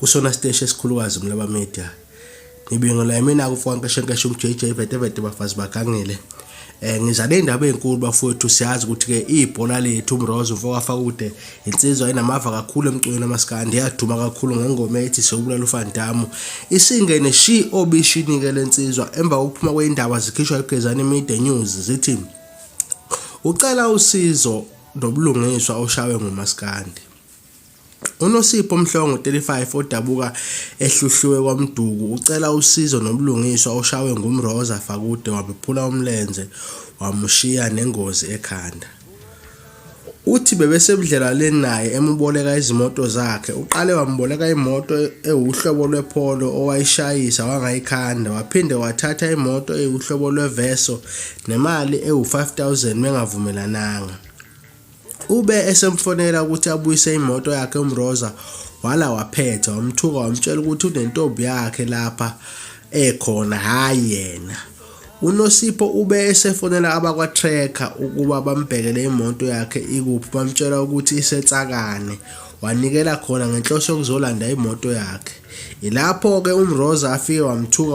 kusona siteshi esikhulukazi umlaba media ngibingelela imina kufonkeshenkeshe umjj vetevete bafazi bagangile eh ngizale indaba ezinkulu bafowethu siyazi ukuthi ke ibhola lethu umrozo mfokafa kude insizwa inamava kakhulu emcweni amaskandi yaduma kakhulu ngengoma ethi sewubulala ufandamu isingene shi obishini ke lensizwa emva kokuphuma kweindaba zikhishwa igezani media news zithi ucela usizo nobulungiswa oshawe ngumaskandi UNosipho Mhlongo, 35, odabuka eHluhluwe KwaMduku, ucela usizo nobulungiswa oshawe nguMroza Fakude wamephula umlenze wamushiya nengozi ekhanda. Uthi bebesebudlelwaneni naye emuboleka izimoto zakhe. Uqale wamuboleka imoto ewuhlobo lwePolo owayishayisa wangayikhanda, waphinde wathatha imoto ewuhlobo lweVeso nemali ewu-5000 bengavumelananga. Ube esemfonela ukuthi abuyise imoto yakhe uMroza wala waphetha wamthuka wamtshela ukuthi unentombi yakhe lapha ekhona hayi yena. UNosipho ube esefonela abakwa-Tracker ukuba bambhekele imoto yakhe ikuphi bamtshela ukuthi isetsakane wanikela khona ngenhloso yokuzolanda imoto yakhe. Ilapho-ke uMroza afike wamthuka